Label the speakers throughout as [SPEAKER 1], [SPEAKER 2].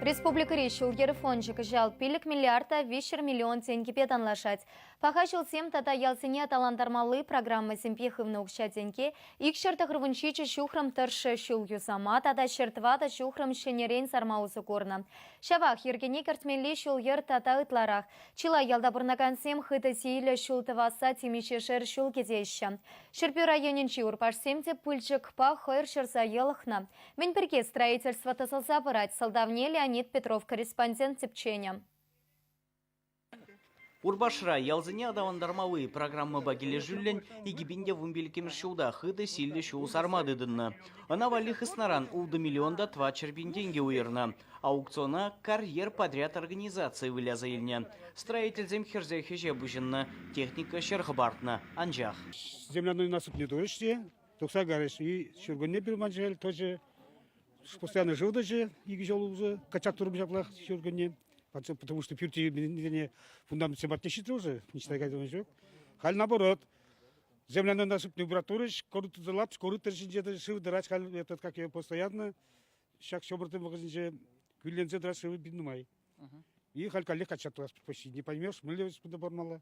[SPEAKER 1] Республикӑри ҫул-йӗр фончӗ кӑҫал пилӗк миллиарда виҫҫӗр миллион тенкӗпе танлашать. Паха ҫулсем тата ялсене аталантармалли программӑсемпе хывнӑ укҫа-тенке икҫӗр тӑхӑрвун ҫичӗ ҫухрӑм тӑршшӗ ҫул юсама тата ҫӗр тӑватӑ ҫухрӑм ҫӗнӗрен сарма усӑ курнӑ. Ҫавах йӗркене кӗртмелли ҫул-йӗр тата ытларах. Чылай ялта пурӑнакансем хытӑ сийлӗ ҫул тӑвасса темиҫешер ҫул кӗтеҫҫӗ. Ҫӗрпӳ районӗнчи урпашсем те пылчӑкпа хӑйӑр ҫӑрса йӑлӑхнӑ. Мӗн пирки строительство тӑсӑлса пырать сӑлтавне Леонид Петров корреспондент тӗпченӗ.
[SPEAKER 2] Урпашра ялсене аталантармалли программӑпа килӗшӳллӗн икӗ пин те вунпиллӗкмӗш ҫулта хытӑ силлӗ ҫул сарма тытӑннӑ. Ӑна валли хыснаран ултӑ миллион та тӑватҫӗр пин тенкӗ уйӑрнӑ. Аукциона «Карьер подряд» организацийӗ выляса илнӗ. Строительсем хӗрсех ӗҫе пуҫӑннӑ, техника ҫӗр хӑпартнӑ, анчах. Земляной
[SPEAKER 3] насыпне турӗҫ те тухса кайрӗҫ. Ҫуркунне пирман шел тӑчӗ. Постоянно шыв тӑчӗ икӗ ҫул улсӑ. Качак турӑм ҫаплах ҫуркунне. Потому что пӳрте йӳмӗннине фундамент сематне ҫитрӗ уже, ничего кайдам ҫук. Халь наоборот. Землянана сыпни убратурыш, корытылат, корытыр ҫинче шыв тӑрать халь этот, как ее постоянно. Ҫак ҫӑмӑртын вӑхӑтӗнче кӳлленсе тӑрать шывы пин нумай. И халь каллех качатлас почти. Не поймешь, млевец пунда пормала.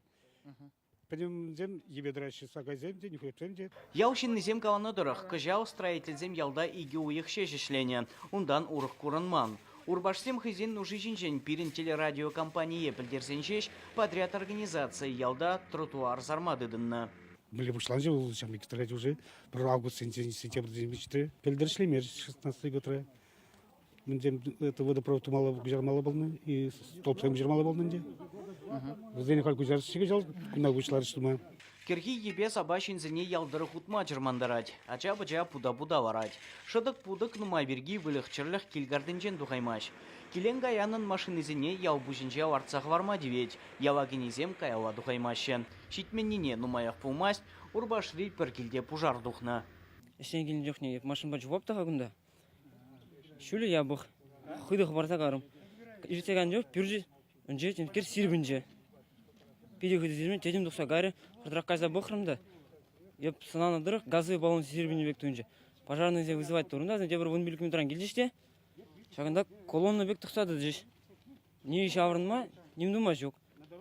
[SPEAKER 3] Пӗтӗмсем йӗпе тӑраҫҫӗ, сакайсем
[SPEAKER 2] те, нӳхрепсем те. Ял ҫыннисем каланӑ тӑрӑх, кӑҫал строительсем ялта икӗ уйӑх ҫеҫ ӗҫленӗ, унтан урӑх курӑнман. Урпашсем хӑйсен нуши ҫинчен пирӗн телерадиокомпание пӗлтерсен ҫеҫ подряд организацийӗ ялта тротуар сарма тытӑннӑ. Мӗнле пуҫланчӗ
[SPEAKER 3] вӑл ҫамрӑк строительсен? Пӗр августсенчен сентябрьсенче пӗлтерӗшлемерӗҫ шестнадцатый годра. мӗнсем это водопровод тумалла куҫармалла пулнӑ и столбсем куҫармалла пулнӑ ӗнтӗ. Вӗсене халь куҫарчӗ кӑҫал кунта пуҫларӗҫ тума. Кӗрхи йӗпе
[SPEAKER 2] сапа ҫынсене ял тӑрӑх утма чӑрмантарать, ача-пӑча пута-пута ларать. Шӑтӑк-путӑк нумай пирки выльӑх-чӗрлӗх кил картинчен тухаймасть. Килен-каянӑн машинисене ял пуҫӗнче лартса хӑварма тивет, яла кӗнисем каялла тухаймаҫҫӗ. Ҫитменнине нумаях пулмасть Урпашри пӗр килте пушар тухнӑ. Ӗҫрен килнӗ чухне
[SPEAKER 4] машинӑпа чупап та-ха кунта. Ҫулӗ япӑх, хытӑ хӑпарса карӑм. Ишсе кайнӑ чух пӳрчӗ ӗнче темскер сирпӗнчӗ. Питӗ хытӑ сирпӗн тӗтӗм тухса кайрӗ. Хӑртрах кайса пӑхрӑм та йӑп сӑнанӑ тӑрӑх газовый баллон сирпӗннӗ пек туйӑнчӗ. Пожарнӑйсем вызывать турунтасӑн тепӗр вун пилӗк минутран килчӗҫ те ҫакӑнта колонна пек тӑкса тӑчӗҫ. Ни ҫаврӑнма, ним тума ҫук.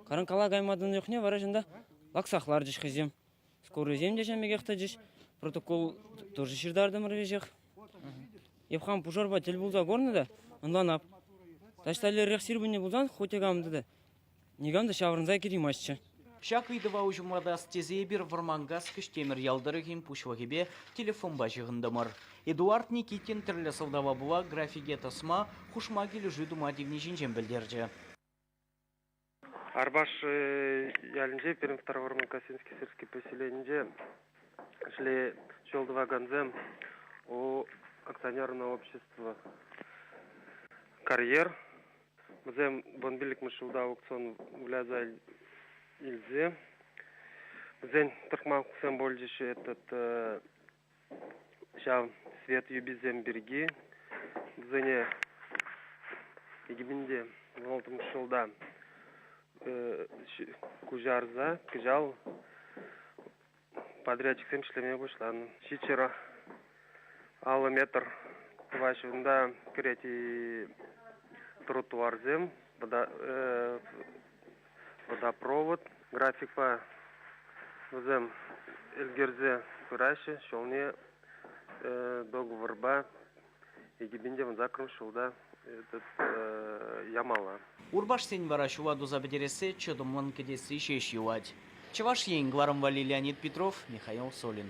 [SPEAKER 4] Каранкала кайма тӑнӑ чухне вара чӑнта лаксах ларчӗҫ хӑйсем. Шкуррисем те ҫавӑн пекех тӑчӗҫ. Протокол тоже ҫыртартӑмӑр веҫех. Эп хам пушарпа тӗл пулса курнӑ та ӑнланап. Таҫталлерех сирпӗннӗ пулсан хоть кам та никам та ҫаврӑнса кӗтимастчӗ. Ҫак ыйтӑва
[SPEAKER 2] уҫӑмлатас тесе эпир Вӑрманкас Кӗҫтемӗр ял тӑрӑхӗн пуҫлӑхӗпе телефонпа ҫыхӑнтӑмӑр. Эдуард Никитин тӗрлӗ сӑлтава пула графике тӑсма, хушма килӗшӳ тума тивни ҫинчен пӗлтерчӗ.
[SPEAKER 5] Арбаш ялӗнче пирӗн Второформа Косинский сельский поселенинче ӗҫле ҫул тӑвакансем акционерное общество карьер вӗсем вун пиллӗкмӗш ҫулта аукцион выляса илсе вӗсен тӑрӑхма хуксем пулчӗҫ этот ҫав свет юписем пирки вӗсене икӗ мӗн те вӑтӑрмӗш ҫулта куҫарса кӑҫал подрядчиксем ӗҫлеме пуҫланӑ ҫиччӗр аллӑ метр тӑваҫҫӗ унта кӗрет тротуарсем водопровод графикпа вӗсем ӗлкӗрсе пыраҫҫӗ ҫулне договорпа икӗпен те вунсаккӑрмӗш ҫулта этот ямалла. Урпашсен
[SPEAKER 2] вара ҫула туса пӗтерессе чӑтӑмлӑн кӗтесси ҫеҫ юлать. Чӑваш Ен, кӑларӑм валли Леонид Петров, Михаил Солин.